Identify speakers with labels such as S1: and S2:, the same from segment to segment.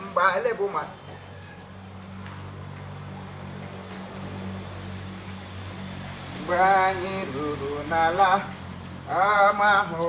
S1: mgbe bụ maka mgbe anyị ruru n'ala ama ahụ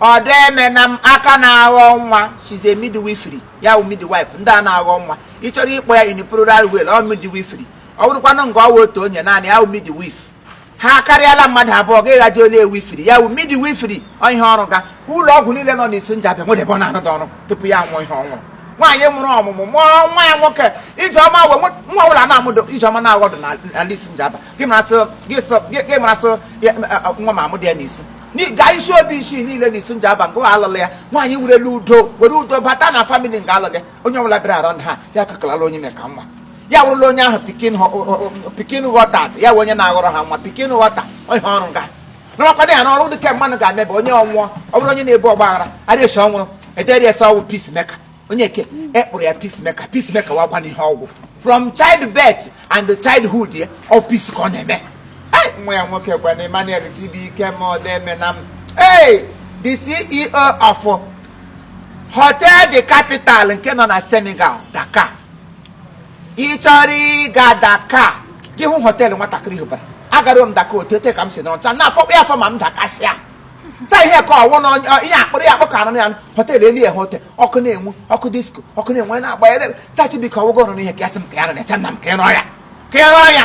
S1: odemenam aka na-aghọ nwa she's a midwifery ya wụ midwife ndị a na-aghọ nwa ị chọrọ ịkpọ ya in plural way ọ midwifery ọ bụrụkwanụ nga ọ wụ otu onye naanị ya wụ midwife ha karịala mmadụ abụọ ga ịghaji ole ewifiri ya wụ midwifery ọ ihe ọ rụga ụlọ ọgwụ niile nọ n'isu njaba nwere ebe ọ na-anọdụ ọrụ tupu ya nwụọ ihe ọ nwụrụ nwaanyị mụrụ ọmụmụ mụọ nwa ya nwoke ijeọma wee nwa nwa ọbụla na-amụdụ ijeọma na-aghọdụ n'ala isu njaba gị marasị gị sọ- gị- gị marasị ya- nwa ma amụdụ ya n'isu ga isuobishi niile na isu njaba nga a lụla ya nwaanyị werele udo were udo bata na family nga a lụla ya onye ọbụla bịara arọ ha ya kakalala onye meka nwa ya wụrụla onye ahụ pikin ghọta ya wụ onye na-aghọrọ ha nwa pikin ghọta ihe ọ rụga nọrọkwa ya n'ọrụ dịka mmadụ ga-amebe onye ọ wụ ọ bụrụ onye na-ebu ọgbaghara arịa esi ọ wụrụ ederi esi ọ wụ peacemaker onye eke kpụrụ ya peacemaker peacemaker wụkwanụ ihe ọ wụ from childbirth and childhood ya ọ peace ka ọ na-eme Ai, nwa ya nwoke kwanụ emmanuel chibuike odemenam hey the ceo of hotel de capital nke nọ na senegal dakar ị chọrọ ịga dakar gị hụ họteelụ nwatakịrị rụbara agara m dakar otu ote ka m si n'ọcha na-afọkwa ya afọ ma m dakasịa sa ihe ka ọ wụ na ihe akpụrụ ya akpụ ka anụ ya hotel elu ya hotel ọkụ na-enwu ọkụ disko ọkụ na-enwu anyị na-agba ya sa chibuike ọwụgo ọrụ n'ihe ka ya sị m ka ya nọ na-ese nna m ka ya n'ọya ka ya n'ọya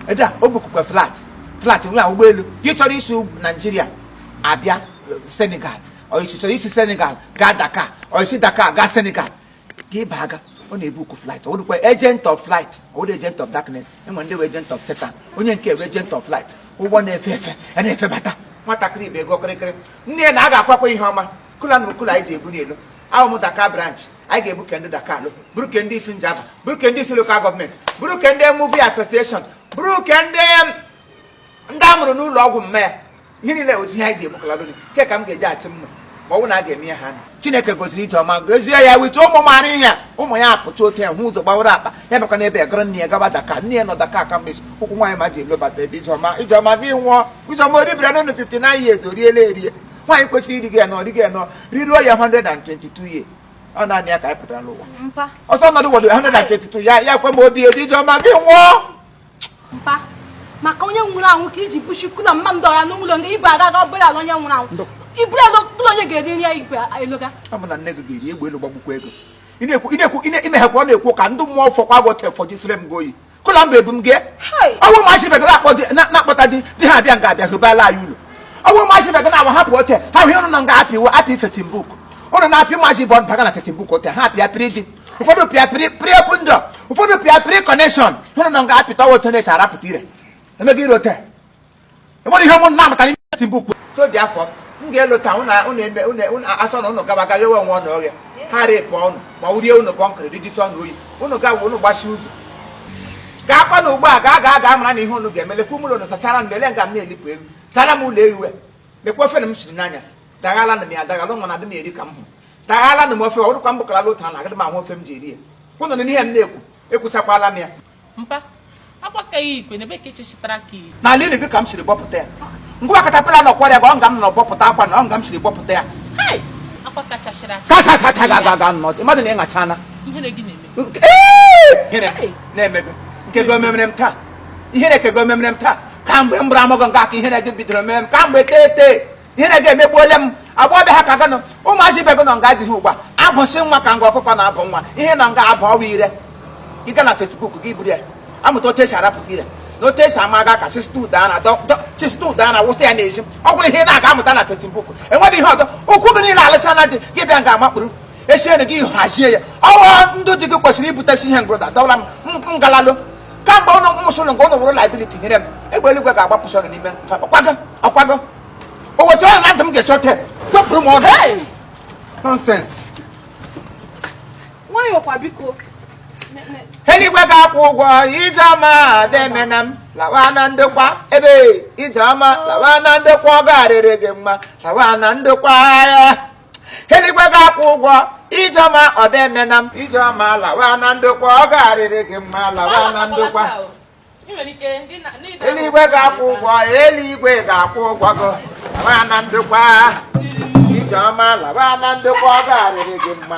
S1: ede a o bukukwa flight flight wụ ụgbọelu gị chọrọ isi naijiria abịa senegal ọ ị chọrọ isi senegal gaa dakar ọ isi dakar gaa senegal ka ịba aga ọ na-ebuku flight ọ dịkwa agent of flight ọ dị agent of darkness enwere ndị bụ agent of Satan onye nke a bụ agent of flight ụgbọ na-efe efe a na-efe bata nwatakịrị ibe ego kịrịkịrị nne ya na a ga-akwakwa ihe ọma cooler na cooler anyị ji ebu n'elu ahụ m dakar branch anyị ga-ebu ke ndị dakar buru ke ndị isu njaba buru ke ndị isu local government buru ke ndị movie association buru ke ndị ndị a mụrụ n'ụlọ ọgwụ mma ya ihe niile ozi ha ji ebukalado nke ka m ga-eji achị mma ma ọ wụ na a ga-eme ya ha chineke goziri ijeọma gozie ya wite ụmụ mara ihe ụmụ ya apụta otu ya hụ ụzọ gbawara akpa ya bịakwa n'ebe ya gara nne ya gaba dakar nne ya nọ dakar ka mgbe ụkwụ nwaanyị ma ji elobata ebe ijeọma ijeọma gị nwụọ ijeọma o ribere n'ụlọ 59 years o riela erie nwaanyị kwesịrị iri gị ya nọ ri gị ya nọ riruo ya 122 years ọ naanị ya ka anyị pụtara n'ụwa ọsọ nọdụ wọdụ 122 ya ya kwe ma obi edi ijeọma gị nwụọ mpa
S2: maka onye nwụrụ anwụ ka iji bushi kula mma ndị ọya n'ụlọ nga ibu aga aga obere ala onye nwụrụ anwụ iburu ala ụlọ onye ga-eri nri ya igwe eloga ọ bụ na nne gị ga-eri
S1: egbe elu gbagbukwa gị o ị na-ekwu ị na-ekwu ị na- ime ha ka ọ na-ekwu ka ndị mmụọ fọkwa gị otu fọjisire m gị oyi kụla mba ebu m gị ọ wụ ma achịbe gị na-akpọ di- na- na-akpọta di di ha abịa nga abịa hụbala anyị ụlọ ọ wụ ma achịbe gị na-awa hapụ ote ha hụ ụnụ na nga apịwo apị Facebook ụnụ na-apị maazị bọnd baga na Facebook ote ha apịa pịrị di ụfọdụ pịa pịrị open door ụfọdụ pịa pịrị connection ụnụ na nga apịta otu na-esi arapụta ire emeghị ire ote enwere ihe ụnụ na-amụta n'ime Facebook o so dị afọ m ga-elota ụnụ asọ na ụnụ gaba gaghị enwe nwa ọnụ ọrịa ha repụ ụnụ ma wurie ụnụ kọnkịrị rijisi ọnụ oyi ụnụ gawa ụnụ gbachi ụzọ ga-akpa na ugbu a ga aga aga amara na ihe ụnụ ga-eme lekwa ụmụlọ ụnụ sachara nlele nga m na-elipụ elu sara m ụlọ ehiwe lekwa ofe na m siri n'anyasị daghala na m ya daghala nwa na adị m eri ka m hụrụ daghala na m ofe ọ dịkwa mbụkara otu a na agadị m anwụ ofe m ji eri ya ụnụ na ihe m na-ekwu ekwuchakwala m ya mpa
S3: agbakaghị ikpe n'ebe ka echechitara ka iyi n'ala ili gị ka m siri
S1: gbọpụta ya ngwa katapila na ọkwara ya ka ọ nga m nọ gbọpụta akwa na ọ nga m siri gbọpụta ya
S3: hai akwa kachasịrị acha ka ka ka ka ga ga
S1: ga nọ mmadụ na ịṅachana ihere gị
S3: na-eme Nke- Ee!
S1: Gịnị na-eme gị nke gị omemere m taa ihere ke gị omemere m taa kamgbe m bụrụ ọmụgwọ nke aka ihere gị bidoro mere m kamgbe tete ihere gị emegbuole m agbọbịa ha ka gị nọ ụmụazị ibe gị nọ nga adịghị ugbu a abụsị nwa ka nga ọkụkọ na-abụ nwa ihe na nga abụ ọwa ire ị ga na Facebook gị buru ya amụta otu esi arapụta ire na otu esi amaga ka chista ude ana wụsị ya n'ezi ọ wụrụ ihe na-aga amụta na Facebook enweghị ihe ọdọ ụkwụ gị niile alụsa na di gị bịa nga a makpuru esiere gị hazie ya ọ wụ ndị di gị kwesịrị ibutesi ihe ngụda dọwara m ngalalụ kamgbe ụnụ mụsụrụ nke ụnụ wụrụ liability nyere m egbe eluigwe ga-agbapụsị ụnụ n'ime mfe ọkwago ọkwago o wetara ya na ntị m ga-esote zọpụrụ m ọnụ Hey!
S2: nonsense nwayọọ kwa biko Ne-
S1: ne- eluigwe ga-akwụ ụgwọ ije ọma ọdọ emena m lawa na ndokwa ebe ije ọma lawa na ndokwa ọ ga-arịrị gị mma lawa na ndokwa ya eluigwe ga-akwụ ụgwọ ijeọma ọdọ emena m ijeọma lawa na ndokwa ọ ga-arịrị gị mma lawa na ndokwa eluigwe ga-akwụ ụgwọ eluigwe ga-akwụ ụgwọ gị lawa na ndokwa ijeọma lawa na ndokwa ọ ga-arịrị gị mma